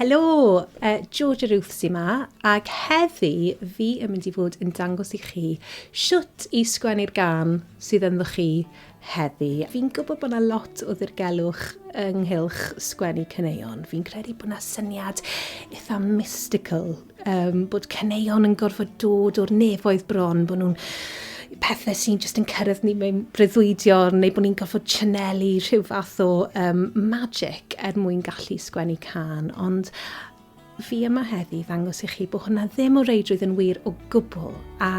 Helo, uh, Georgia Ruth sy'n ma, ac heddi fi yn mynd i fod yn dangos i chi siwt i sgwennu'r gan sydd ynddo chi heddi. Fi'n gwybod bod yna lot o ddirgelwch ynghylch sgwennu cyneuon. Fi'n credu bod yna syniad eitha mystical um, bod caneuon yn gorfod dod o'r nefoedd bron, bod nhw'n pethau sy'n just yn cyrraedd ni mewn breuddwydion neu bod ni'n gorfod chanelu rhyw fath o um, magic er mwyn gallu sgwennu can. Ond fi yma heddi ddangos i chi bod hwnna ddim o reidrwydd yn wir o gwbl a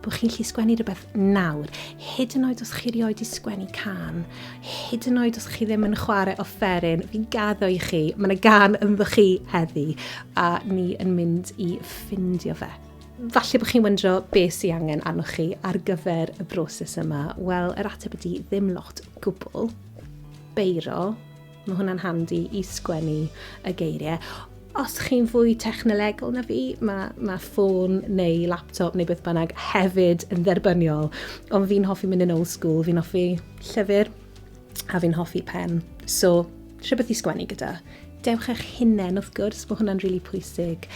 bod chi'n lli sgwennu rhywbeth nawr, hyd yn oed os chi rioed i sgwennu can, hyd yn oed os chi ddim yn chwarae offeryn, fi'n gaddo i chi, mae yna gan ynddo chi heddi, a ni yn mynd i ffindio fe. Falle bod chi'n wyndro beth sy'n angen arnoch chi ar gyfer y broses yma. Wel, yr ateb ydy ddim lot gwbl. Beiro, Mae hwnna'n handi i sgwennu y geiriau. Os chi'n fwy technolegol na fi, mae, mae ffôn neu laptop neu beth bynnag hefyd yn dderbyniol. Ond fi'n hoffi mynd yn old school, fi'n hoffi llyfr a fi'n hoffi pen. So, rhywbeth i sgwennu gyda. Dewch eich hunain, wrth gwrs, mae hwnna'n rili really pwysig.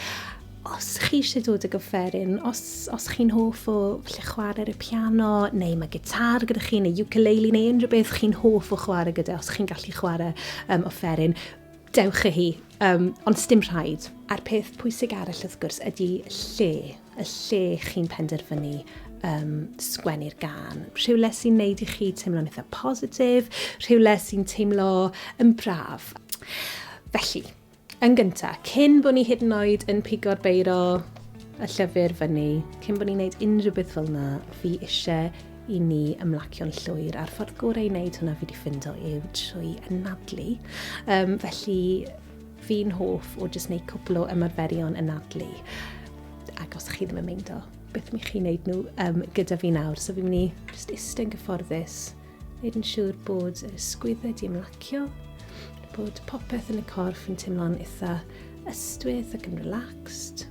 Os chi eisiau dod ag offeryn, os, os chi'n hoff o lle chwarae ar y piano, neu mae gitar gyda chi, neu ukulele, neu unrhyw beth chi'n hoff o chwarae gyda, os chi'n gallu chwarae um, offeryn, dewch y hi, um, ond stym rhaid. A'r peth pwysig arall wrth gwrs ydy lle, y lle chi'n penderfynu um, sgwennu'r gan. Rhywle sy'n neud i chi teimlo'n eitha positif, rhywle sy'n teimlo yn braf. Felly, Yn gynta, cyn bo ni hyd yn oed yn pigo'r beiro y llyfr fyny, cyn bo ni'n neud unrhyw beth fel na, fi ishe i ni ymlacio'n llwyr, a'r ffordd gore i neud hwnna fi wedi ffindo yw trwy anadlu. Um, felly, fi'n hoff o jyst neud cwpl o ymarferion anadlu, ac os chi ddim yn meindo, beth mi chi'n neud nhw um, gyda fi nawr. So fi'n mynd i just iste'n gyfforddus, Neud yn siŵr bod yr ysgwyddau wedi ymlacio, bod popeth yn y corff yn teimlo'n eitha ystwyth ac yn relaxed.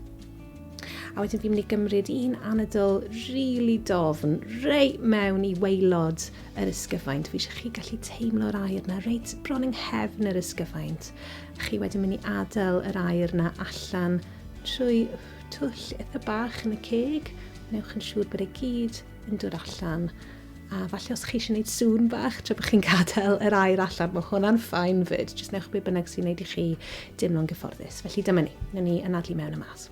A wedyn fi'n mynd i gymryd un anadl rili really dofn, rei mewn i weilod yr ysgyfaint. Fi eisiau chi gallu teimlo'r air na reit bron yng nghefn yr ysgyfaint. A chi wedyn mynd i adael yr air na allan trwy twll eitha bach yn y ceg. Newch yn siŵr bod e gyd yn dod allan. A falle os chi eisiau gwneud sŵn bach tra bod chi'n gadael yr air allan, mae hwnna'n ffain fyd. Jyst newch be bynnag sy'n gwneud i chi deimlo'n gyfforddus. Felly dyma ni, newn ni anadlu mewn y mas.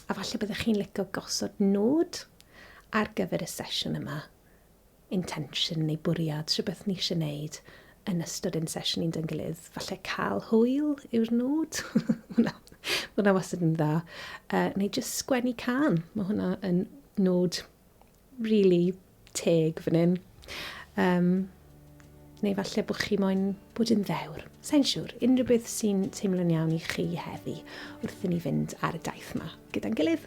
a falle byddech chi'n licio gosod nod ar gyfer y sesiwn yma, intention neu bwriad, rhywbeth ni eisiau gwneud yn ystod ein sesiwn ni'n dyngilydd. Falle cael hwyl yw'r nod. Mae hwnna wastad yn dda. Uh, neu jyst sgwennu can. Mae hwnna yn nod Rili teg fan hyn. Um, neu falle bod chi moyn bod yn ddewr. Sa'n siŵr, unrhyw beth sy'n teimlo'n iawn i chi heddi wrth i ni fynd ar y daith yma gyda'n gilydd.